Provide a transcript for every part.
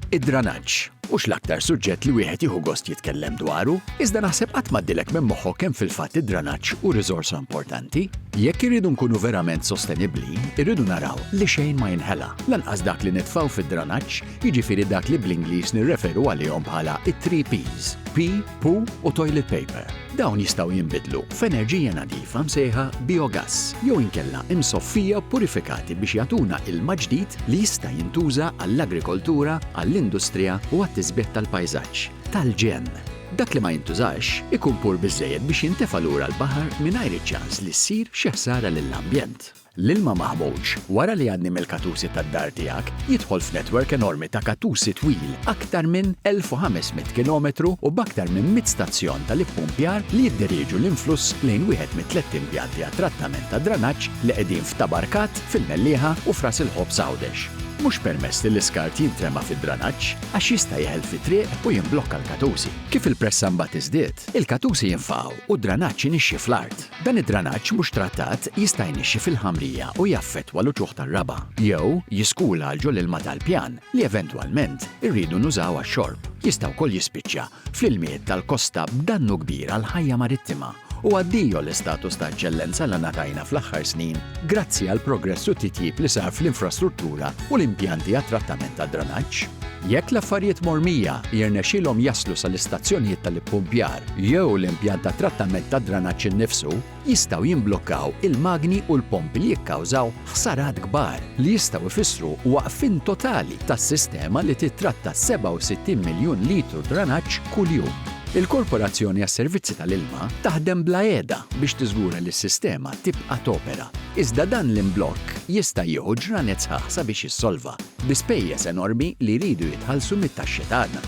Id-dranaġġ, mhux l-aktar suġġett li wieħed jieħu gost jitkellem dwaru, iżda naħseb qatt m'għaddilek minn moħħok kemm fil-fatt id-dranaġġ hu riżorsa importanti. Jekk irridu nkunu verament sostenibbli, irridu naraw li xejn ma jinħela, lanqas dak li nitfgħu fid-dranaġġ, jiġifieri dak li bl-Ingliż nirreferu għalihom bħala it-three P's, P, Poo u toilet paper. Dawn jistgħu jinbidlu f'enerġija nadifa msejħa biogass jew inkella imsoffija purifikati biex jagħtuna ilma ġdid li jista' jintuża għall-agrikoltura, għall-industrija u għat-tisbiħ tal-pajsaġġ, tal-ġenn. Dak li ma jintużax ikun pur biżżejjed biex jintefa' lura l-baħar mingħajr iċ-ċans li ssir xi ħsara lill-ambjent. L-ilma maħmuġ, wara li jgħaddi mill-katusi tad-dar tiegħek, jidħol f'netwerk enormi ta' katusi twil aktar minn 1,500 kilometru u b'aktar minn mitt stazzjon tal-ippumpjar li jidderieġu l-influss lejn wieħed mit-tlett impjanti għat-trattament tad-dranaġġ li qegħdin f'Tabarkat, fil-Mellieħa u f'Ras il-Ħobż Għawdex. Mhux permess li l-iskart jintrema fid-dranaġġ għax jista' jeħel fit-triq u jimblokka l-katusi. Kif il-pressa mbagħad tiżdied, il-katusi jinfaqgħu u d-dranaġġ inixxi fl-art. Dan id-dranaġġ mhux trattat jista' jnixxi fil-ħamrija u jaffettwa l-uċuħ tar-raba', jew jiskula għal ġo l-ilma tal-pjan li eventwalment irridu nużaw għax-xorb. Jista' wkoll jispiċċa fl-ilmijiet tal-kosta b'dannu kbir għall-ħajja marittima u addio l-istatus ta' eċċellenza li ngħatajna fl-aħħar snin grazzi għall-progress u t-titjib li sar fl-infrastruttura u l-impjanti għat-trattament tad-dranaġġ. Jekk l-affarijiet mormija jirnexxilhom jaslu sal-istazzjonijiet tal-ippumpjar jew l-impjant tat-trattament tad-dranaġġ innifsu, jistgħu jimblokkaw il-magni u l-pompi li jikkawżaw ħsarat kbar li jistgħu jfissru waqfien totali tas-sistema li tittratta 67 miljun litru dranaġġ kuljum. Il-Korporazzjoni għas-Servizzi tal-Ilma taħdem bla qiegħda biex tiżgura li s-sistema tibqa' topera, iżda dan l-imblokk jista' jieħu ġranet sħaħ sabiex jissolva. bi spejjeż enormi li jridu jitħallsu mit-taxxi tagħna.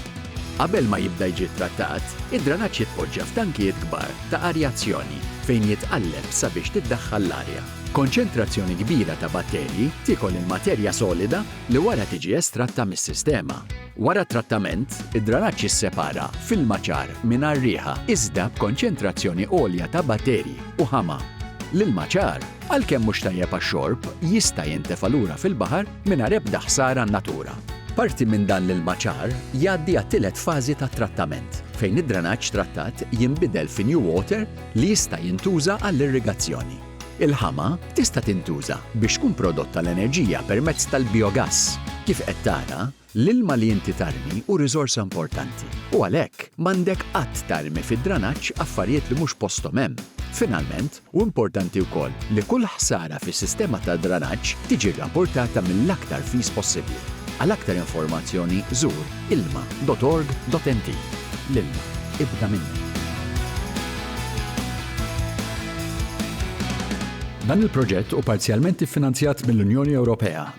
Qabel ma jibda jiġi ttrattat, id-dranaġġ jitpoġġa f'tankijiet kbar ta' arjazzjoni fejn jitqalleb sabiex tiddaħħal l-arja. Konċentrazzjoni kbira ta' batterji tiekol il-materja solida li wara tiġi estratta mis-sistema. Wara t-trattament, id-dranaġġ jissepara f'ilma ċar mingħajr riħa iżda b'konċentrazzjoni għolja ta' batterji u ħama. L-ilma ċar għalkemm mhux tajjeb għax-xorb, jista' jintefa' lura fil-baħar mingħajr ebda ħsara għan-natura. Parti minn dan l-ilma ċar jgħaddi għat-tielet fażi tat-trattament, fejn id-drenaġġ trattat jinbidel fi new water li jista' jintuża għall-irrigazzjoni. Il-ħama tista' tintuża biex tkun prodotta l-enerġija permezz tal-bijogass, kif qed tara L-ilma li inti tarmi hu riżorsa importanti u għalhekk m'għandek qatt tarmi fid-dranaġġ affarijiet li mhux posthom hemm. Finalment, hu importanti wkoll li kull ħsara fis-sistema tad-dranaġġ tiġi rrapportata mill-aktar fis possibbli. Għal aktar informazzjoni żur ilma.org.mt. L-ilma, ibda minnu! Dan il-proġett hu parzjalment iffinanzjat mill-Unjoni Ewropea.